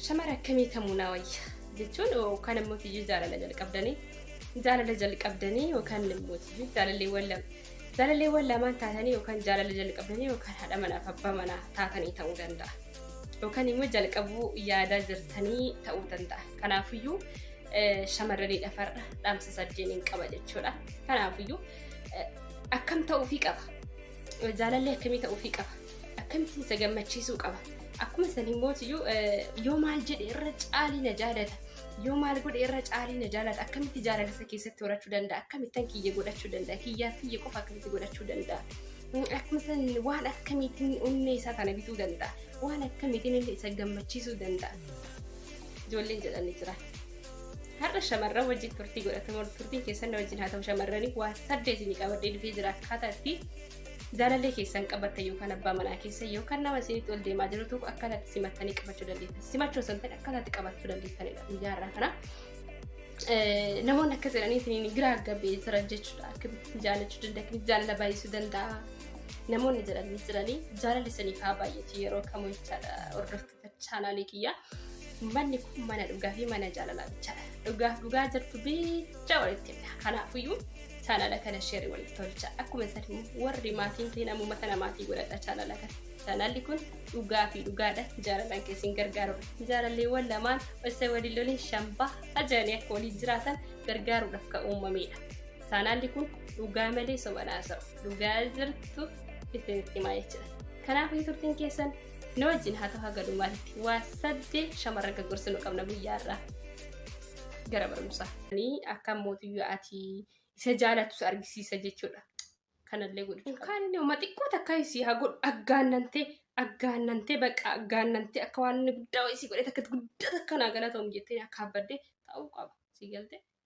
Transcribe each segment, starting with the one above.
Shamara akkamii kamuu naa wayya jechuun yookaan immoo tiyyuu jaalala jalqabdanii jaalala jalqabdanii yookaan immoo tiyyuu jaalalleewwan lama jaalalleewwan lamaan taatanii yookaan jaalala jalqabdanii yookaan haadha manaaf abbaa manaa taatanii ta'uu danda'a. Yookaan immoo jalqabuu yaadaa jirtanii ta'uu danda'a. Kanaafiyyuu shamarranii dhafarra dhaamsa saddeeniin qaba jechuudha. Kanaafiyyuu akkam ta'uufii qaba. Jaalalli akkamii ta'uufii qaba? Akkamittiin isa gammachiisuu qaba? Akkuma san immoo iyyuu yoo maal jedhe irra caalii na jaalata. Yoo maal godhe irra caalii na jaalata. Akkamitti jaalala isa keessatti horachuu danda'a? Akkamittan kiyya godhachuu danda'a? Kiyyaaf kiyya qofa akkamitti godhachuu danda'a? Akkuma san waan akkamiitiin onnee isaa kana bituu danda'a? Waan akkamiitiin inni isa gammachiisuu danda'a? Ijoolleen jedhanii jira. har'a shamarran wajjin turtii godhatamu turtiin keessan na wajjin haa ta'u shamarranii waa saddeet ni qabadhee dhufee jira akkaataa itti jaalallee keessan qabattan yookaan abbaa manaa keessa yookaan nama isinitti ol deemaa jiru tokko akkaataa itti simattanii qabachuu dandeettan simachuu osoo hin ta'in akkaataa itti qabachuu dandeettanidha guyyaa irraa kana. Namoonni akka jedhanii isiniin giraa gabbee jira jechuudha akkamitti jaalachuu danda'a akkamitti jaalala baay'isuu danda'a namoonni jedhanii jiranii jaalalli isiniif haa baay'atu yeroo kamuu jechaadha hordoftu. chaanaalii kiyyaa. Manni kun mana dhugaa fi mana jaalalaa bichaadha. Dhugaaf dhugaa jirtu bicha walitti himna. Kanaafiyyuu chaanala kana sheerii walitti tolcha. Akkuma san immoo warri maatiin ta'in ammuma kana maatii godhadha chaanala kana. Chaanalli kun dhugaa fi dhugaadha. Jaalalaan keessin gargaarudha. Jaalalleewwan lamaan osoo waliin loliin shambaa ajaa'anii akka waliin jiraatan gargaaruudhaaf kan uumamedha. Chaanalli kun dhugaa malee soba hin haasa'u. Dhugaa jirtu isinitti himaa jechuudha. Kanaafuu turtiin keessan nu wajjin haa ta'u haga dhumaatti waa saddeet shamarran kan gorsinu qabna guyyaa irraa gara barumsaa. Akka mootiyyuu ati isa jaalatus argisiisa jechuudha. Kanallee godhachuu qabna. Kan inni uma xiqqoo takka isii haa godhu aggaannantee aggaannantee bakka aggaannantee akka waan inni guddaa wayii isii godhee takka guddaa takka naa galatoom jettee akka habbaddee ta'uu qaba. Sii galtee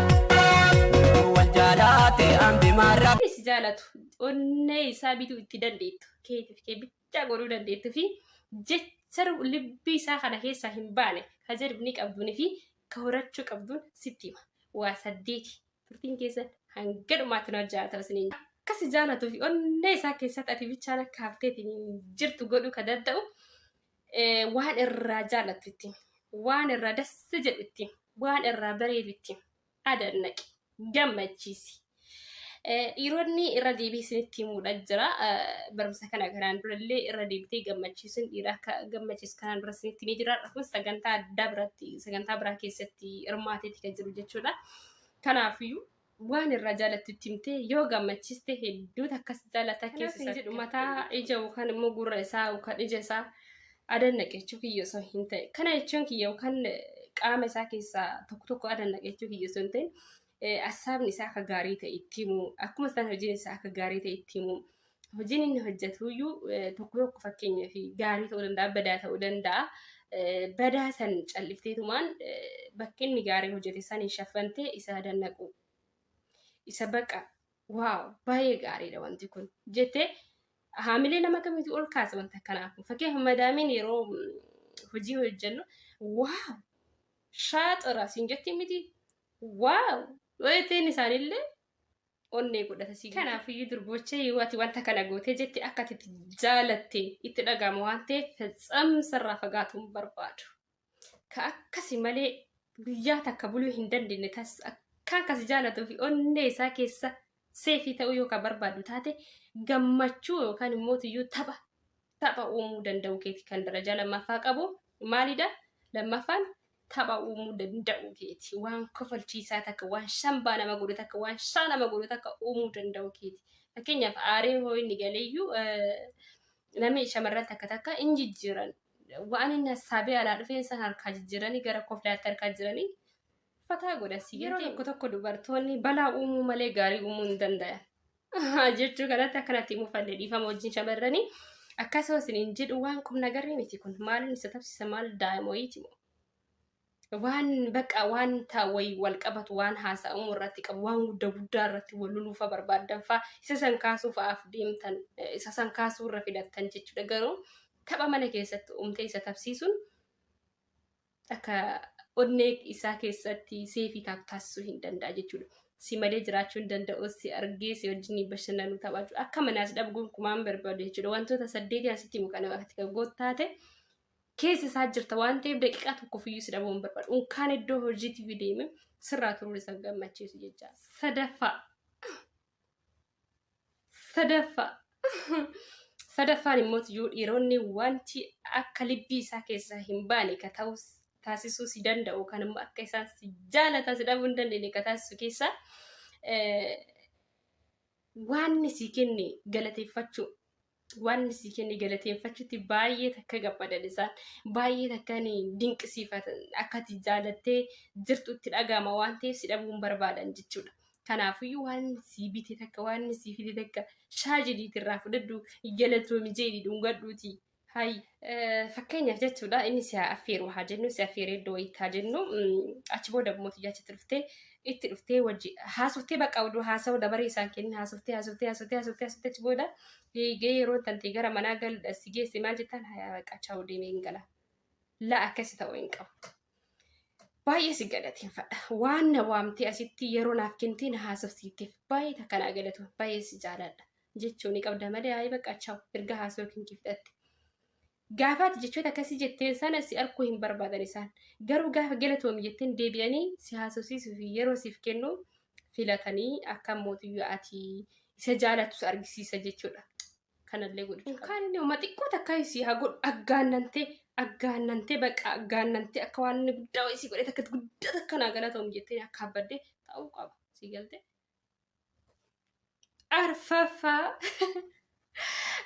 Utuu wal jaalaate ambi maarra. Namni si jaalatu onnee isaa bituu itti dandeettu keetiif kee bichaa godhuu dandeettu fi jecha libbii isaa kana keessaa hin baane ka jadbni qabduun fi ka horachuu qabduun sitti hima. Waa saddeeti. Turtiin keessan hanga dhumaatti na wajjin haa ta'u isiniin jedha. Akka si jaalatuu fi onnee isaa keessatti ati bichaan akka hafteeti hin jirtu godhuu ka danda'u waan irraa jaallattu itti himi. Waan irraa dassi jedhu itti himi. Waan irraa bareedu itti himi. Adannaqi. Gammachiisi. Dhiironni irra deebii isinitti himuudha jira. Barumsa kana kanaan durallee irra deebitee gammachiisuun dhiira akka gammachiisu kanaan dura isinitti himee jira. Kun sagantaa addaa biratti sagantaa biraa keessatti hirmaateeti kan jiru jechuudha. Kanaafiyyuu waan irraa jaalattu itti himtee yoo gammachiste hedduu takkas jaalata Kanaaf keessa hin isaa jedhu mataa ija yookaan immoo gurra isaa yookaan ija isaa adan naqachuu kiyya osoo hin ta'e kana jechuun kiyya yookaan eh, qaama isaa keessaa tokko tokko adan naqachuu kiyya osoo hin ta'in eh, assaabni isaa akka gaarii ta'e itti himu akkuma isaan hojiin isaa akka gaarii ta'e itti himu hojiin inni hojjetuyyuu tokko tokko fakkeenya fi gaarii ta'uu danda'a, badaa ta'uu danda'a. Badaa san callifteetumaan bakki inni gaarii hojjete saniin shaffantee isa dannaquu. Isa baqa waaw baay'ee gaariidha wanti kun jettee haamilee nama kamitu ol kaasa wanta kanaaf. Fakkeenya madaamiin yeroo hojii hojjennu waaw shaaxira siin jetti miti waaw jettee inni isaanillee onnee godhata si kanaaf iyyuu durboochee yoo ati wanta kana gootee jette akka ati itti jaalatte itti dhaga'ama waan ta'eef fetsamsa irraa fagaatuu hin barbaadu. Ka akkasi malee guyyaa takka buluu hin dandeenye tas akka akkasi jaalatuu fi onnee isaa keessa seefii ta'uu yoo ka barbaadu taate gammachuu yookaan immoo iyyuu tapha tapha uumuu danda'uu keeti kan darajaa lammaffaa qabu maalidha lammaffaan tapha uumuu danda'uu keeti waan kofalchiisaa takka waan shambaa nama godhu takka waan shaa nama godhu takka uumuu danda'uu keeti fakkeenyaaf aaree hoo inni galeeyyuu namni shamarran takka takka in jijjiiran waan inni hassaabee alaa dhufeen san harkaa jijjiiranii gara koflaatti harkaa jiranii fataa godhasi yeroo tokko tokko dubartoonni balaa uumuu malee gaarii uumuu hin danda'an jechuu kanatti akkanatti mufanne dhiifama wajjin shamarranii akkasuma isiniin jedhu waan qum nagarri miti kun maaliin isa tabsisa maal daa'imoyiiti moo waan baqa waan taawwayi wal qabatu waan haasa'amu irratti qabu waan gudda guddaa irratti wal luluufa barbaadan faa isa san kaasuu fa'aaf deemtan isa san kaasuu irra filattan jechuudha garuu tapha mana keessatti umtee isa tabsiisuun akka onnee isaa keessatti seefii taatu taasisuu hin danda'a jechuudha. Si malee jiraachuu hin danda'u, si argee si wajjin bashannanuu taphachuu akka manaas dhabu gonkumaan barbaadu jechuudha. Wantoota saddeetii asitti himu kana irratti kan gootu taate keessa isaa jirta waan ta'eef daqiiqaa tokkoof iyyuu si dhabuu hin barbaadu. Unkaan iddoo hojiitiif deeme sirraa turuun isa gammachiisu jecha. Sadaffaa Sadaffaa. Sadaffaan immoo iyyuu dhiironni wanti akka libbii isaa keessaa hin baane ka ta'u taasisuu si danda'u kan immoo akka isaan si jaalataa si dhabuu hin dandeenye ka taasisu keessaa eh, waanni si kenne galateeffachuu waan si kenne galateeffachuutti baay'ee takka gammadan isaan baay'ee takka dinqisiifatan akka ati jaalattee jirtutti dhaga'ama waan ta'eef si dhabuun barbaadan jechuudha. Kanaafiyyuu waan si bite takka waan si fide takka shaajiliitti irraa fudhadhu galatoomi jeedhi dhungadhuuti. Hayya. Fakkeenyaaf jechuudha inni si affeeru haa jennu si affeeree iddoo wayiitti haa jennu achi booda immoo tiyyaa achitti dhuftee itti dhuftee wajji haasoftee bakka oduu haasa'u dabaree isaan kennin haasoftee haasoftee haasoftee haasoftee haasoftee achi booda eegee yeroo tantee gara manaa galudha si geesse maal jettaan hayaa baqqaa chaa'u deemee hin gala laa akkasi ta'uu hin qabu. Baay'ee si galateeffadha. Waan na waamtee asitti yeroo naaf kennitee na haasofsiifteef baay'ee takka naa galatu baay'ee si jaaladha. jechuu ni qabda malee ayi bakka chaw erga haasoo yookiin kee fixatte. Gaafa ati jechoota akkasii jetteen sana si arkuu hin barbaadan isaan. Garuu gaafa galatoomi jetteen deebi'anii si haasofsiisuu fi yeroo siif kennu filatanii akka mootiyyuu ati isa jaalattus argisiisa jechuudha. Kanallee godhu qaba. Kan inni uma xiqqoo takka si haa godhu aggaannantee aggaannantee bakka aggaannantee akka waan inni guddaa wayii si godhee takka guddaa takka naa galatoomi jettee akka abbaddee ta'uu qaba. Si galtee? arfaffaa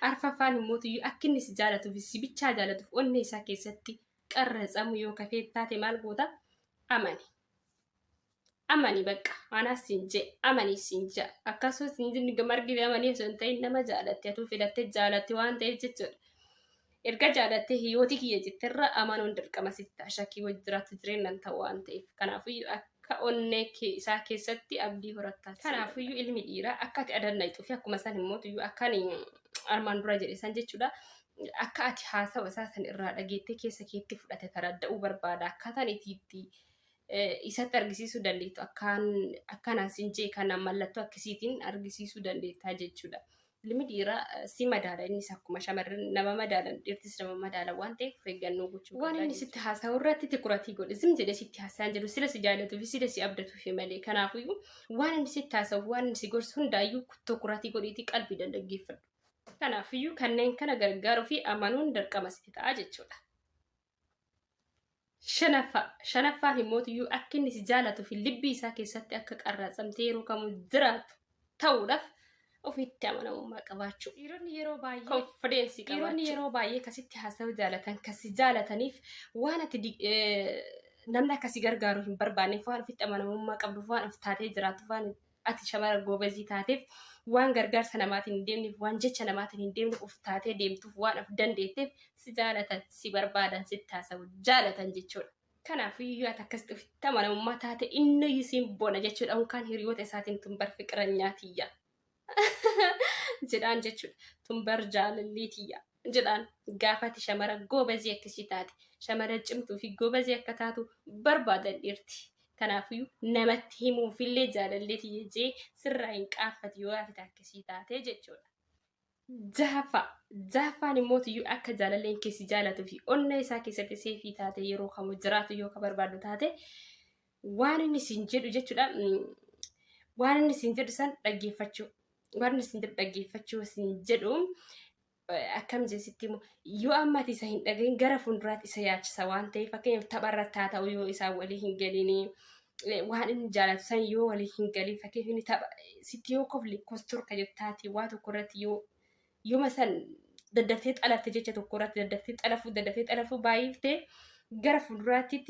arfaffaan immoo tuyyu akka inni si jaalatuuf si bichaa jaalatuuf onnee isaa keessatti qarratsamu yoo kafee taate maal goota amani amani bakka anaa siin jee amani siin jee akkasumas siin jee margi amanii osoo hin ta'in nama jaalatte atuu filatte jaalatte waan ta'eef jechuudha. Erga jaalattee hiyooti kiyya jetterra amanuun dirqama sitti ta'a shakkii wajji jiraattu jireennan ta'u waan ta'eef. Kanaafuyyu akka onnee kee isaa keessatti abdii horattaas. Kanaafuyyu ilmi dhiiraa akka ati adannayxu fi akkuma san immootuyyu akka ani armaan dura jedhe san jechuudha akka ati haasawa isaa san irraa dhageettee keessa keetti fudhate taradda'uu barbaada akkaataan itii itti isatti argisiisuu dandeettu akkaan akkanaan sin jee kana mallattoo akkisiitiin argisiisuu dandeettaa jechuudha. Ilmi dhiiraa si madaala innis akkuma shamarran nama madaalan dhiirtis nama madaala waan ta'eef of eeggannoo gochuu qabda. Waan inni sitti haasa'u irratti tikuratii godhi zim jedhee sitti haasa'an jedhu sila si jaalatuu fi sila si abdatuu fi malee kanaafuyyuu waan inni sitti haasa'u waan inni si gorsu hundaayyuu tikuratii godhiitii qalbii dhaggeeffadhu. Kanaafiyyuu kanneen kana gargaaruu fi amanuun dirqama sitti ta'a jechuudha. Shanaffaa shanaffaan immootiyyuu akka inni si jaalatuu fi libbii isaa keessatti akka qarraatsamtee yeroo kamuu jiraatu ta'uudhaaf ofitti amanamummaa qabaachuu. Dhiironni yeroo baay'ee Confidence dhiironni qabaachuu. yeroo baay'ee kasitti haasa'uu jaalatan kasi jaalataniif waan ati di- eh, namni akka si gargaaru hin barbaanneef waan ofitti amanamummaa qabduuf waan of taatee jiraatuuf waan Ati shamara goobazii taateef, waan gargaarsa namaatiin hin deemneef, waan jecha namaatiin hin deemneef, of taatee deemtuuf waan of dandeetteef si jaalatan, si barbaadan, sitti haasa'u jaalatan jechuudha. Kanaafuu yoo ati akkasitti ofitti amanamummaa taate inniyyuu siin bona jechuudha. Unkaan hiriyoota isaatiin tun bar fiqiranyaa tiyya jedhaan jechuudha. Tun bar jaalallii tiyya. jedhaan gaafati shamara goobazii akkasii taate shamara cimtuu fi goobazii akka taatu barbaadan dhiirti kanaafiyyuu namatti himuuf illee jaalallee tiyya jee sirraa hin qaaffati yoo gaafati akkasii taate jechuudha. Jahaffaa jahaffaan immoo tiyyuu akka jaalalleen kee si jaalatuu fi onnee isaa keessatti seefii taate yeroo kamuu jiraatu yoo ka barbaadu taate waan inni siin jedhu jechuudha waan inni siin jedhu san dhaggeeffachuu waan inni siin jedhu dhaggeeffachuu siin jedhu akkam jee sitti himu yoo ammati isa hin dhagahin gara fuulduraatti isa yaachisa waan ta'eef fakkeenyaaf tapha irratti haa ta'u yoo isaan walii hin galinii waan inni jaalatu san yoo walii hin galin fakkeenyaaf inni tapha sitti yoo kofli kostorka jettaati waa tokko irratti yoo yooma san daddaftee xalafte jecha tokko irratti daddaftee xalafuu daddaftee xalafuu baay'iftee gara fuulduraatti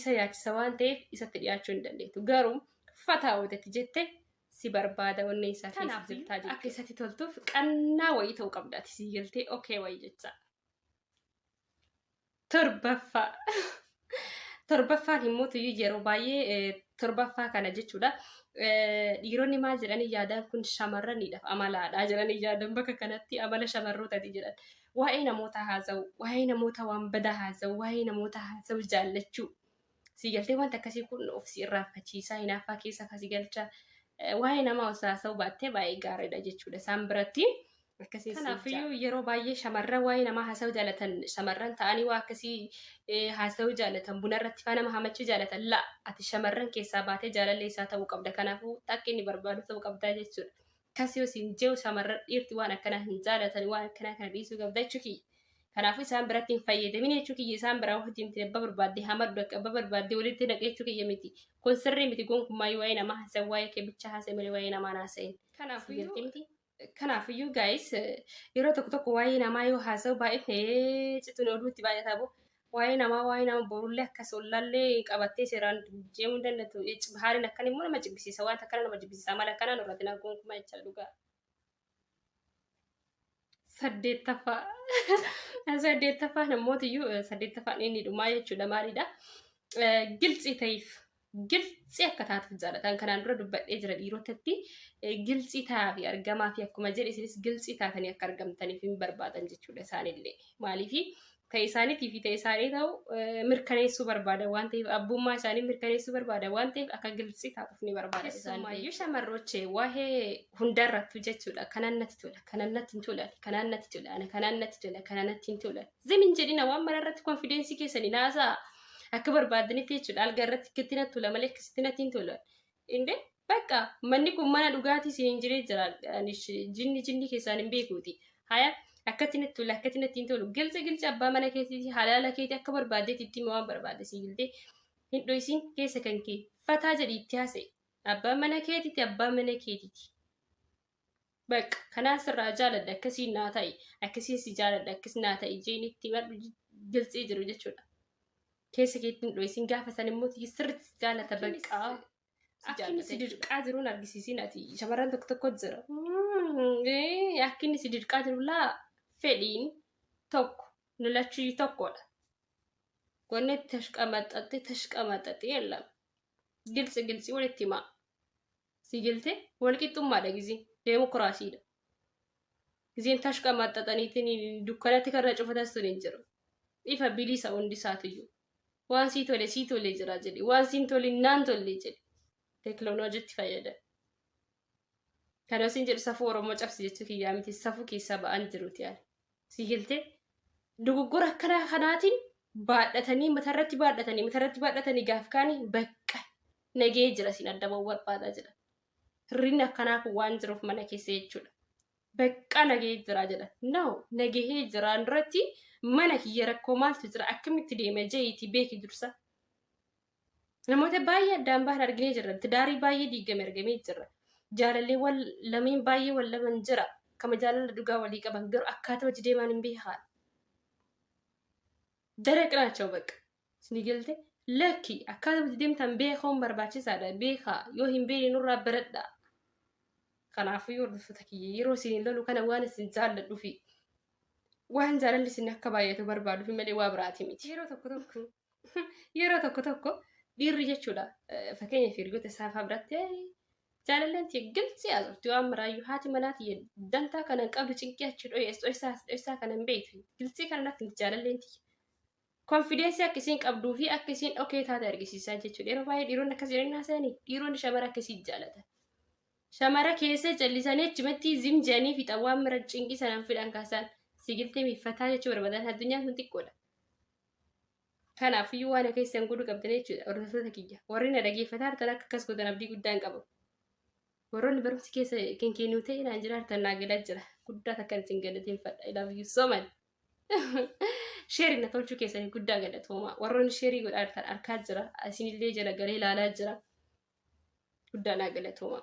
isa yaachisa waan ta'eef isatti dhiyaachuu hin dandeettu garuu fataa walitti jette si barbaada onnee isaa keessa Kanaaf jirtaa akka jechuudha. isatti toltuuf qannaa wayii ta'uu qabda ati sii galtee okee wayii jecha. Torbaffaa. Torbaffaan immoo tuyyuu yeroo baay'ee eh, torbaffaa kana jechuudha. Eh, Dhiironni maal jedhanii yaadaan kun shamarraniidhaaf amalaadha jedhanii yaadan bakka kanatti amala shamarrootati jedhan. Waa'ee namoota haasa'u, waa'ee namoota waan badaa haasa'u, waa'ee namoota haasa'u jaallachuu. Sii galtee wanti akkasii kun of si irraanfachiisaa hinaaffaa keessa faa si galcha. Eh, Waa'ee namaa osoo haasa'uu baattee baay'ee gaariidha jechuudha isaan biratti. Akkasiin siin ja'a. Kanaafiyyuu yeroo baay'ee shamarran waa'ee namaa haasa'uu jaalatan shamarran ta'anii waa akkasii eh, haasa'uu jaalatan buna irratti faa nama hamachuu jaalatan la ati shamarran keessaa baatee jaalallee isaa ta'uu qabda kanaafuu takka inni barbaadu ta'uu qabdaa jechuudha. Akkas yoo siin jehu shamarran dhiirti waan akkanaa hin jaalatan waan akkanaa kana dhiisuu qabda jechuu kiyya. Kanaafuu isaan biratti hin fayyadamin jechuu kiyya isaan biraa wajji miti abba barbaadde hamadhu akka abba barbaadde walitti naqe jechuu kiyya miti. Kun sirrii miti gonkummaayyuu waa'ee namaa haasa'in waa'ee kee bicha haasa'e malee waa'ee namaa hin haasa'in. Kanaafiyyuu kanaafiyyuu gaayis yeroo tokko tokko waa'ee namaa yoo haasa'u baay'ifne cituun oduutti baay'ataa boo Waa'ee namaa waa'ee nama borullee akkas ollallee qabattee seeraan deemuu hin dandatu. Bahaariin akkan immoo nama jibbisiisa wanta akkana nama jibbisiisa amala akkanaa nurratti nan kunkuma jecha dhugaa. Saddeettaffaa saddeettaffaa namootiyyuu saddeettaffaan inni dhumaa jechuudha maalidha? Giltsii ta'eef giltsi akka taatuuf jaalatan kanaan dura dubbadhee jira dhiirotatti giltsi taafi argamaa fi akkuma jedhe isinis giltsi taatanii akka argamtaniif hin barbaadan jechuudha isaanillee maaliif ta'e isaaniitii fi ta'e isaanii ta'u mirkaneessuu barbaada waan ta'eef abbummaa isaanii mirkaneessuu barbaada waan ta'eef akka giltsi taatuuf ni barbaada isaanii shamarrochee waa'ee hundarrattu jechuudha kanaan natti tola kanaan natti hin tola kanaan natti tola kanaan natti tola kanaan natti hin tola zim hin jedhina waan mararratti konfidensii keessanii naasaa Akka barbaadanitti jechuudha alga irratti akkatti natti tola malee akkasitti natti hin tola. Inde bakka manni kun mana dhugaatii isin hin jiree jira jinni jinni keessaan hin beekuuti. Haya akkatti natti tola akkatti natti hin tolu gilca gilca abbaa mana keetiiti halaala keeti akka barbaadeetti itti waan barbaade si giltee hin dho'isin keessa kan kee fataa jedhi itti haasa'e abbaa mana keetiiti abbaa mana keetiiti. Bakka kanaan sirraa jaaladha akkasiin naa ta'i akkasiin si jaaladha akkas naa ta'i jeenitti madhu gilxii jiru jechuudha. Keessa keetti hin dho'isin gaafa san immoo sirriitti si jaalata bakka. Akka inni si dirqaa jiruun argisiisin ati shamarran tokko tokko jira. Akka inni si dirqaa jiru laa fedhiin tokko nu lachuu tokkodha. Wanni tashqamaxaxee tashqamaxaxee lama gilxi gilxi walitti himaa. Si jelte walqixxummaadha gizii deemokiraasiidha. Gizeen tashqa maxxaxaniitiin dukkanatti karra cufatas sun hin jiru. Ifa bilisa hundi isaatiyyuu. Waan sii tole sii tole jira jedhi. Waan siin tolin naan tolle jedhi. Teekiloonojitti fayyadami. Kana isin jedhu safuu Oromoo cabsi jechuu kiyyaa miti safuu keessa ba'an jiruti ani. Sii galtee? Dogoggora akkanaa kanaatiin baadhatanii matarratti baadhatanii matarratti baadhatanii gaaf kaanii bakka nagee jira siin adda ba'uu barbaadaa jedha. Hirrinni akkanaa kun waan jiruuf mana keessa jechuudha. Bakka nagee jira jedha. No nagahee jiraan duratti mana kiyya rakkoo maaltu jira akkamitti deema jeeyitii beeki dursa. Namoota baay'ee addaan bahan arginee jirra. Tidaarii baay'ee diigame argamee jirra. Jaalalleewwan lameen baay'ee wal laman jira. Kama jaalala dhugaa walii qaban garuu akkaataa hojii deemaan hin beekaan. Dara qiraachoo bakka. Isinii galte lakki akkaataa hojii deemtan beekuun barbaachisaadha. Beekaa yoo hin beekne nurraa baradhaa. Kanaafuu hordoftoota kiyya yeroo isin lolu kana waan isin jaalladhuufi waan jaalalli isin akka baay'atu barbaaduufi malee waa biraati miti. Yeroo tokko tokko Yeroo tokko tokko dhiirri jechuudha fakkeenya hiriyoota isaa fa'aa biratti jaalalleen tiyya gilxii haasofti waan maraayyuu haati manaa tiyya dantaa kana hin qabdu cinqii achi dho'ees dho'isaa as dho'isaa kana hin beektu gilxii kana natti miti jaalalleen tiyya. Konfideensii akka isiin qabduu fi akka isiin dhokee taate argisiisaa jechuudha. Yeroo baay'ee dhiironni akkasii hin haasa'anii dhiironni shamara akkasii jaalatan. Shamara keessa callisanii achumatti zim jedhanii fixan waan mara cinqii sanaan fidhan kaasaan sigiltee miiffataa jechuu barbaadan addunyaan kun xiqqoodha. Kanaaf iyyuu waan keessan godhuu qabdan jechuudha hordoftoota kiyya. Warri na dhageeffataa jirtan akka akkas godhan abdii guddaan qaba. Warroonni barumsi keessa kan kennuu ta'e naan jiraatan naa galaa jira. Guddaa takkan isin galateeffadha. I love you so much. Sheerii na tolchuu keessanii guddaa galatooma. Warroonni sheerii godhaa jirtan arkaa jira. Isinillee jala galee ilaalaa jira. Guddaa naa galatooma.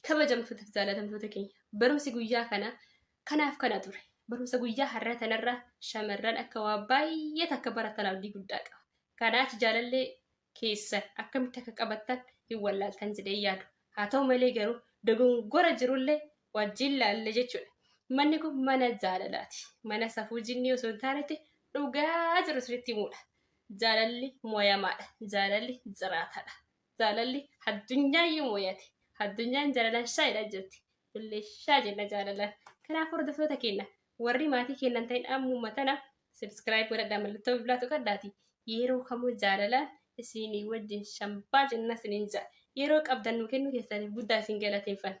Kabajamtoota fi jaalatamtoota keenya barumsi guyyaa kana kanaaf kana ture. Barumsa guyyaa har'a kanarra shamarran akka waa baay'ee takka baratan abdii guddaa qaba. Kanaaf jaalallee keessan akkamitti akka qabattan hin wallaaltan jedhee yaadu. Haa ta'u malee garuu dogongora jirullee wajjin laalle jechuudha. Manni kun mana jaalalaati. Mana safuu jinnii osoo hin taanetti dhugaa jiru sirriitti himuudha. Jaalalli moyamaadha. Jaalalli jiraataadha. Jaalalli addunyaayyuu mooyate. Addunyaan jaalalaan shaayidha jirti. Illee shaa jenna jaalalaan. Kanaaf hordoftoota keenya warri maatii keenya hin ta'in ammuma tana subscribe godhadhaa mallattoo bilbilaa tuqadhaati. Yeroo kamuu jaalalaan isinii wajjin shambaa jenna isiniin ja'a. Yeroo qabdan nu kennuu keessaniif guddaa isin galateeffanna.